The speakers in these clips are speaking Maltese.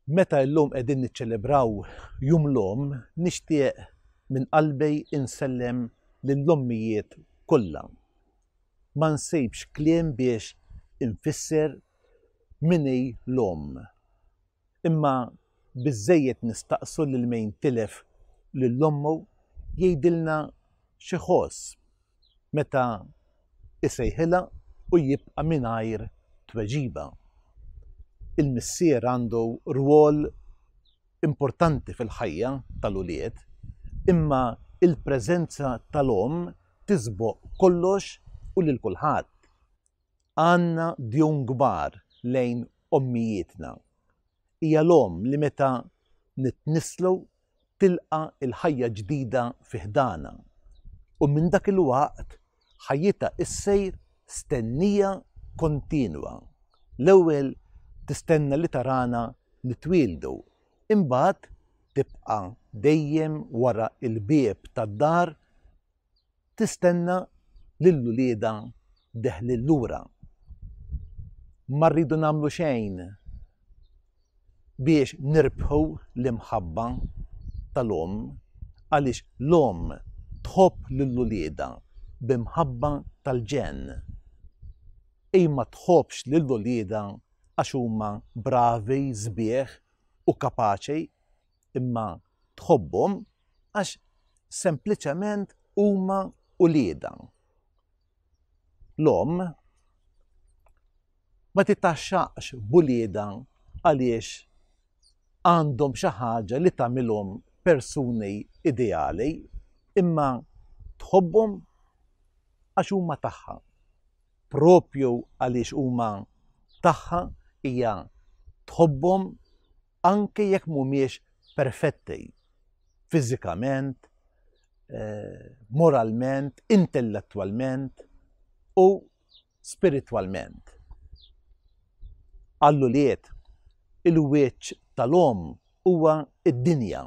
Meta illum qegħdin niċċelebraw jum l-om, nixtieq minn qalbi insellem lill-ommijiet kollha. Ma nsibx kliem biex infisser minni l-om. Imma biżżejjed nistaqsu lil mejn tilef lil ommu jgħidilna x'iħoss meta jsejħilha u jibqa' mingħajr tweġiba. Il-missier għandu rwol importanti fil-ħajja tal-ulied, imma l-preżenza tal-omm tisboq kollox u lil kulħadd. Għandna djun kbar lejn ommijietna. Hija l-omm li meta nitnisslu tilqa' l-ħajja ġdida fi ħdanha u minn dak il-waqt ħajjitha issir stennija kontinwa. L-ewwel tistenna li tarana nitwieldu, imbagħad tibqa' dejjem wara l-bieb tad-dar tistenna lil uliedha deħlin lura. Ma rridu nagħmlu xejn biex nirbħu l-imħabba tal-omm għaliex l-omm tħobb lil uliedha bi mħabba tal-ġenn. Hi ma tħobbx lil uliedha għax huma bravi, sbieħ u kapaċi imma tħobbhom għax sempliċement huma ulieda. L-om ma titaxxaqx bulieda għaliex għandhom xi ħaġa li tagħmilhom persuni ideali, imma tħobbhom għax huma tagħha. Propju għaliex huma tagħha hija tħobbhom anke jekk mhumiex perfetti fiżikament, moralment, intellettwalment u spiritwalment. Għall-ulied, il-wiċċ tal-omm huwa d-dinja.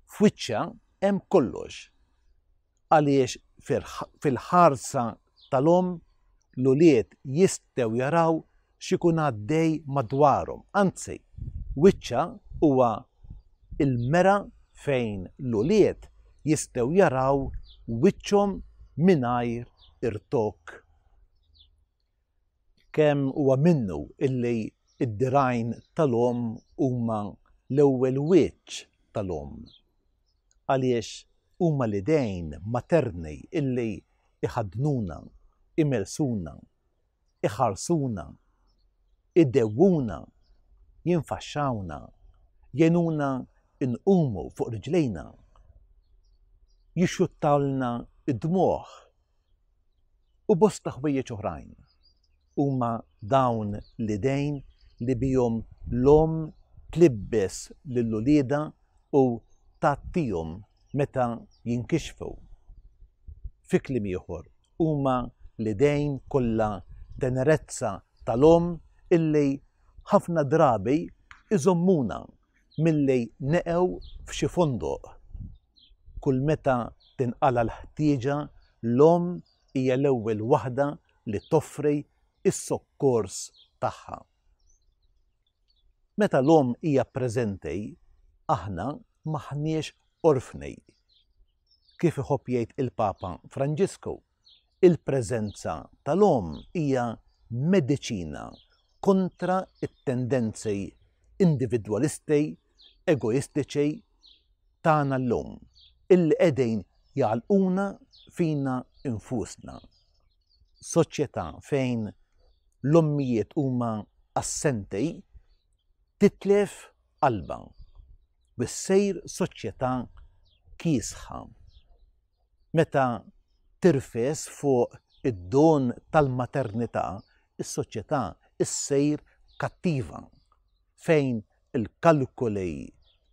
F'wiċċha hemm kollox. għaliex fil-ħarsa tal-omm l-ulied jistgħu jaraw x'ikun għaddej madwarhom. Anzi, wiċċha huwa l-mera fejn l-ulied jistgħu jaraw wiċċhom mingħajr irtok. Kemm huwa minnu illi d-dirgħajn tal-omm huma l-ewwel wiċċ tal-omm, għaliex huma l-idejn materni illi jħaddnuna, imersuna, iħarsuna, idewwuna, jinfaxxawna, jgħinuna nqumu fuq riġlejna, jixxuttawlna d-dmugħ u bosta ħwejjeġ oħrajn. Huma dawn l-idejn li bihom l-omm tlibbes lil uliedha u tgħattihom meta jinkixfu. Fi kliem ieħor, huma l-idejn kollha tenerezza tal-omm illi ħafna drabi iżommuna milli neqgħu f'xi fondoq. Kull meta tinqala' l-ħtieġa, l-omm hija l-ewwel waħda li toffri s-sokkors tagħha. Meta l-omm hija preżenti, aħna m'aħniex orfni. Kif iħobb jgħid il-Papa Franġisku? Il-preżenza tal-omm hija mediċina kontra t-tendenzi individwalisti egoistiċi tagħna llum, illi qegħdin jagħlquna fina nfusna. Soċjetà fejn l-ommijiet huma assenti titlef qalbha u ssir soċjetà kiesħa. Meta tirfes fuq id-don tal-maternità, is-soċjetà ssir kattiva, fejn il-kalkoli,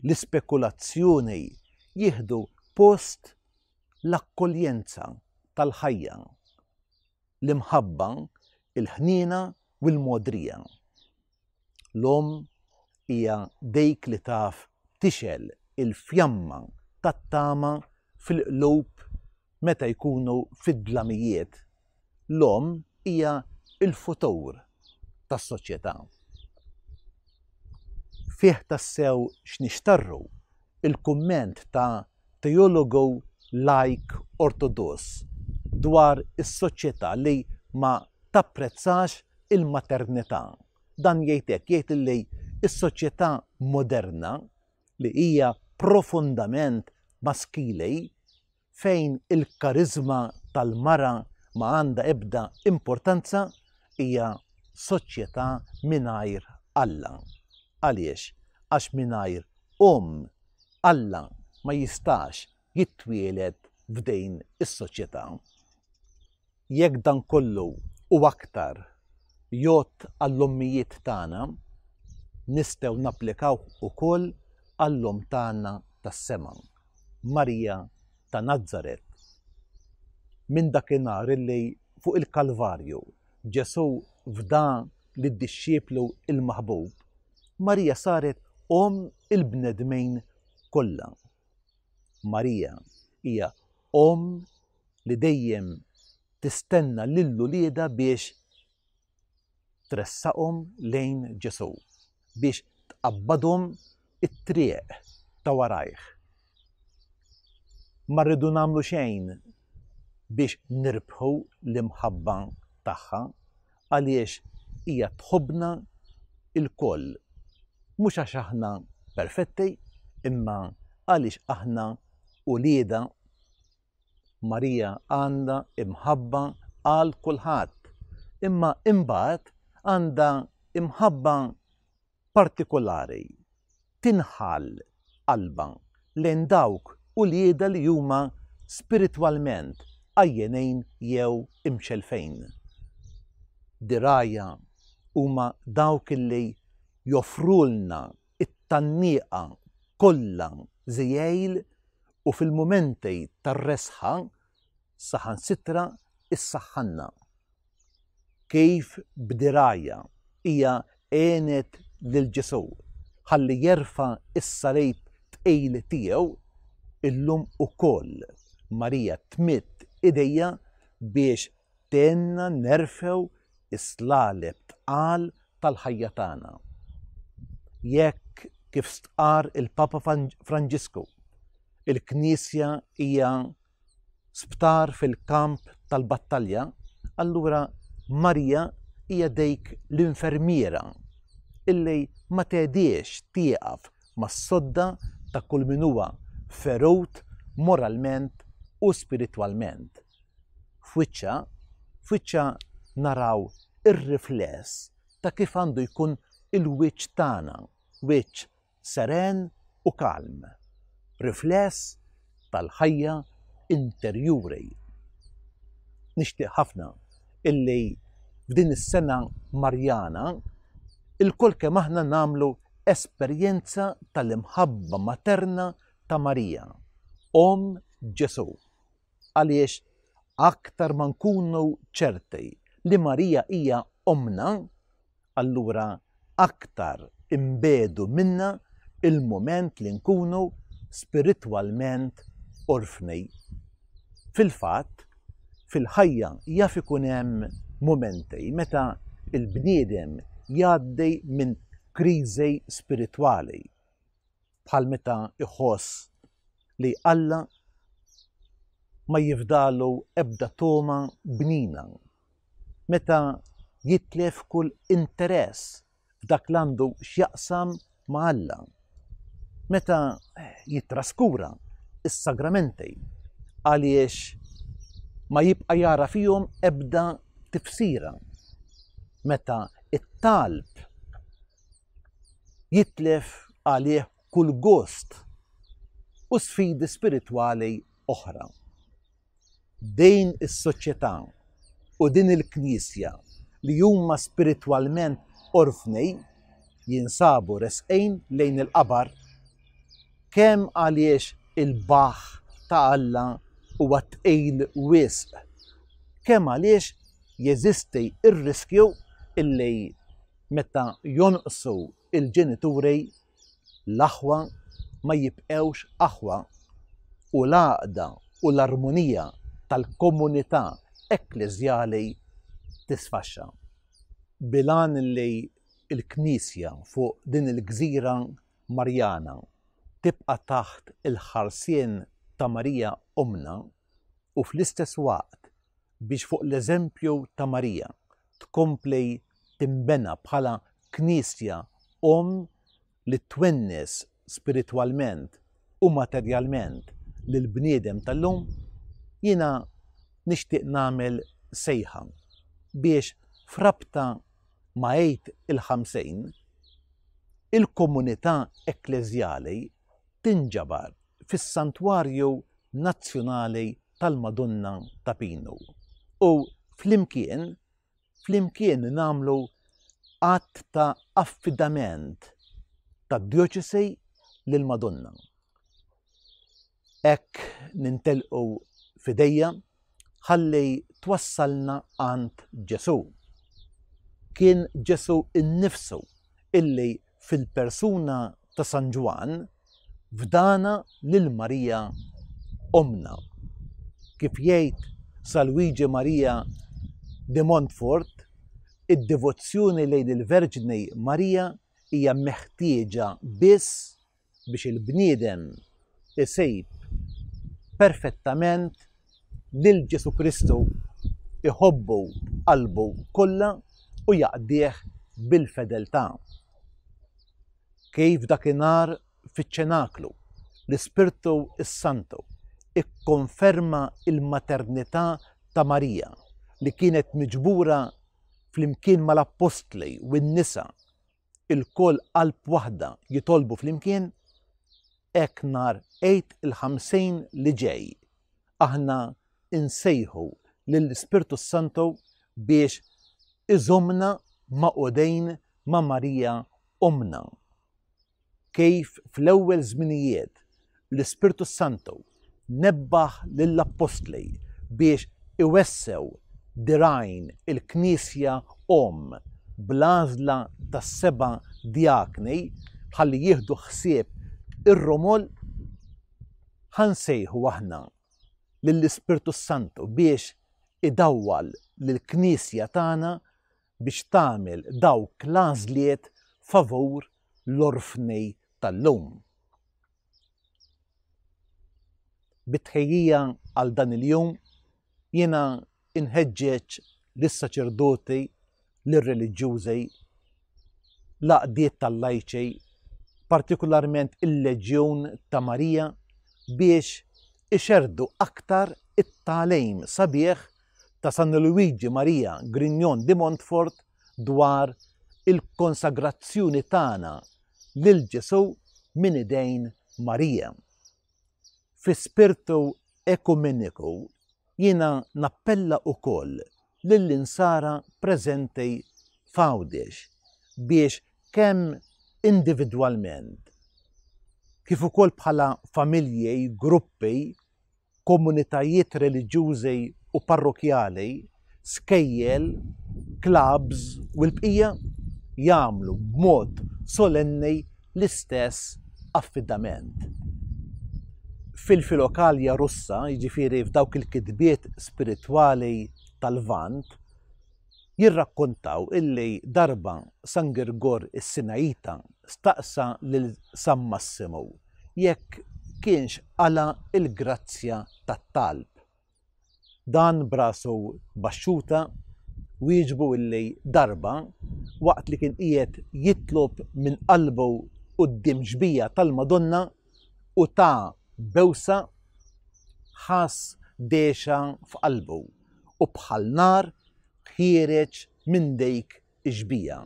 l-ispekulazzjoni jieħdu post l-akkoljenza tal-ħajja, l-imħabba, il-ħniena u l-mogħdrija. L-omm hija dik li taf tixgħel il-fjamma tat-tama fil-qlub meta jkunu fid-dlamijiet. L-omm hija l-futur tas-soċjetà. Fih tassew x'nixtarru l-kumment ta' teologu lajk Ortodoss dwar is-soċjetà li ma tapprezzax il-maternità. Dan jgħid hekk, jgħid li s-soċjetà moderna li hija profondament maskili fejn il-kariżma tal-mara ma għandha ebda importanza hija soċjetà mingħajr Alla. Għaliex? Għax mingħajr omm Alla ma jistax jitwieled f'din is-soċjetà. Jekk dan kollu u aktar jgħodd għall-ommijiet tagħna, nistgħu napplikawh ukoll għall-Omm tagħna tas-sema, Marija ta' Nazaret. Minn dakinhar li fuq il-Kalvarju Ġesù fda lid-dixxieplu l-maħbub, Marija saret omm il-bnedmejn kollha. Marija hija omm li dejjem tistenna lil uliedha biex tressaqhom lejn Ġesù, biex tqabbadhom it-triq ta' warajh. Ma rridu nagħmlu xejn biex nirbħu l-imħabba tagħha, għaliex hija tħobbna lkoll, mhux għax aħna perfetti, imma għaliex aħna uliedha. Marija għandha imħabba għal kulħadd, imma imbagħad għandha imħabba partikulari tinħall qalbha lejn dawk uliedha li huma spiritwalment għajjenejn jew imxellfejn. Dirgħajha huma dawk li joffrulna t-tgħanniqa kollha żiegħil u fil-mumenti tar-resħa saħansitra ssaħħanna. kif b'dirgħajha hija għenet lil Ġesù ħalli jerfa' s-salib tqil tiegħu, illum ukoll Marija tmidd idejha biex tgħinna nerfgħu s-slaleb tqal tal-ħajja tagħna. Jekk, kif stqarr il-Papa Franġisku, il-Knisja hija sptar fil-kamp tal-battalja, allura Marija hija dejk l-infermiera illi ma tediex tieqaf mas-sodda ta' kull min huwa ferut moralment u spiritwalment. F'wiċċha, f'wiċċha naraw ir-rifless ta' kif għandu jkun il-wiċċ tagħna, wiċċ seren u kalm, rifless tal-ħajja interjuri. Nixtieq ħafna illi f'din is-sena Marjana ilkoll kemm aħna nagħmlu esperjenza tal-imħabba materna ta' Marija, Omm Ġesù, Għaliex aktar ma nkunu ċerti li Marija hija ommna, allura aktar inbegħdu minnha l-mument li nkunu spiritwalment orfni. Fil-fatt, fil-ħajja jaf ikun hemm mumenti meta l-bniedem jgħaddi minn kriżi spiritwali. bħal meta jħoss li Alla ma jifdalu ebda toma bnina, meta jitlef kull interess f'dak l-għandu x'jaqsam ma' Alla, meta jitraskura is-sagramenti għaliex ma jibqa' jara fihom ebda tifsira, meta it-talb jitlef għalih kull gost u sfidi spiritwali oħra. Din is-soċjetà u din il-Knisja li huma spiritwalment orfni jinsabu resqin lejn il-qabar kemm għaliex il-baħħ ta' Alla huwa tqil wisq, kemm għaliex jeżisti r-riskju illi Meta jonqsu l-ġenituri, l-aħwa ma jibqgħux aħwa u l-għaqda u l-armonija tal-komunità ekkleżjali tisfaxxa. Bil-għan li l-Knisja fuq din il-gżira Marjana tibqa' taħt il-ħarsien ta' Marija Ommna, u fl-istess waqt biex fuq l-eżempju ta' Marija tkompli tinbena bħala Knisja omm li twennes spiritwalment u materjalment lill-bniedem tal-lum, jiena nixtieq nagħmel sejħa biex f'rabta ma' Għid il-Ħamsejn, il-komunità ekkleżjali, tinġabar fis-Santwarju Nazzjonali tal-Madonna ta' Pinu u flimkien flimkien nagħmlu att ta' affidament tad-Djoċesi lill-Madonna. Hekk nintelqu f'idejha ħalli twassalna għand Ġesù. Kien Ġesù innifsu illi fil-persuna ta' San Ġwann fdana lil Marija ommna. Kif jgħid Sa Luigi Marija de Montfort, id-devozzjoni lejn il-Verġni Marija hija meħtieġa biss biex il-bniedem isib perfettament lil Ġesù Kristu, iħobbu b'qalbu kollha u jaqdih bil-fedeltà. Kif dakinhar fiċ-Ċenaklu, l-Ispirtu s-Santu kkonferma l-maternità ta' Marija li kienet miġbura flimkien mal-appostli u n-nisa ilkoll qalb waħda jitolbu flimkien, hekk nhar Għid il-Ħamsejn li ġej aħna nsejħu lill-Ispirtu s-Santu biex iżommna magħqudejn ma' Marija Ommna. Kif fl-ewwel żminijiet l-Ispirtu s-Santu nebbaħ lill-Appostli biex iwessew dirgħajn il-Knisja omm bl-għażla tas-seba' djakni ħalli jieħdu ħsieb ir-romol, ħa nsejħu aħna lill-Ispirtu s-Santu biex idawwal lill-Knisja tagħna biex tagħmel dawk l-għażliet favur l-orfni tal-lum. Bit-tħejjija għal dan il-jum jiena inħeġġeġ lis-saċerdoti, lir-reliġjużi, l-għaqdiet tal-lajċi, partikolarment il-Leġjun ta' Marija biex ixerdu aktar it-talejm sabiħ ta' San Luigi Maria Grignon di Montfort dwar il-konsagrazzjoni tagħna lil Ġesù minn idejn Marija. Fi spirtu ekumeniku jiena nappella wkoll lill-insara preżenti f'Għawdex biex kemm individwalment kif ukoll bħala familji, gruppi, komunitajiet reliġjużi u parrokjali, skejjel, klabbs u l-bqija jagħmlu b'mod solenni l-istess affidament. Fil-filokalja Russa, jiġifieri f'dawk il-kitbiet spiritwali tal-Lvant, Jirrakkontaw illi darba San Girgor is-Sinajita staqsa lil San Massimu jekk kienx qala' il-grazzja tat-talb. Dan b'rasu baxxuta wieġbu illi darba, waqt li kien qiegħed jitlob minn qalbu quddiem xbija tal-Madonna u ta bewsa, ħass dehxa f'qalbu. u bħal nar ħiereġ minn dejk ix-xbija.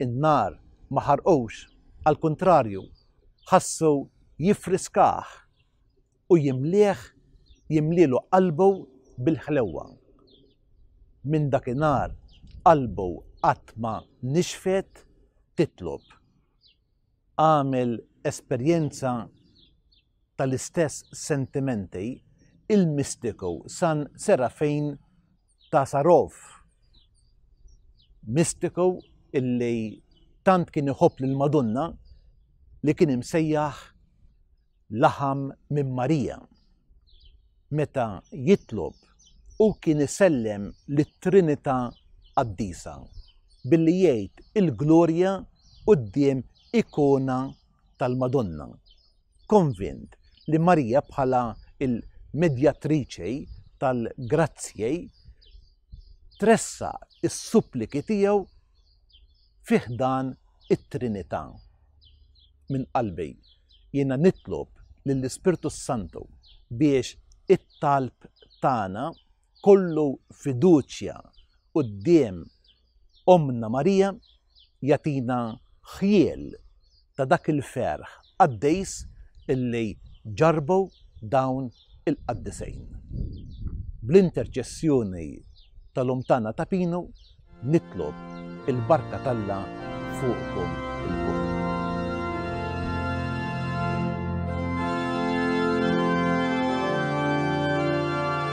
In-nar ma ħarqux, għall-kuntrarju, ħassu jiffriskah u jimlieh jimlielu qalbu bil-ħlewwa. Minn dakinhar qalbu qatt ma nixfet titlob. għamel esperjenza tal-istess sentimenti il-mistiku San Serafin ta' Sarov. Mistiku illi tant kien iħobb lill-Madonna li kien imsejjaħ laħam minn Marija. Meta jitlob, hu kien isellem lit-Trinità Qaddisa billi jgħid il-glorja quddiem ikona tal-Madonna, konvint li Marija bħala il-medjatriċi tal-grazzji tressaq is-suppliki tiegħu fi ħdan it-Trinità. Minn qalbi jiena nitlob lill-Ispirtu s-Santu biex it-talb tagħna kollu fiduċja quddiem Ommna Marija jagħtina ħjiel ta' dak il-ferħ qaddejs illi ġarrbu dawn il-qaddisejn. Bl-interċessjoni tal-Omm tagħna ta' Pinu nitlob il-barka t'Alla fuqkom ilkoll.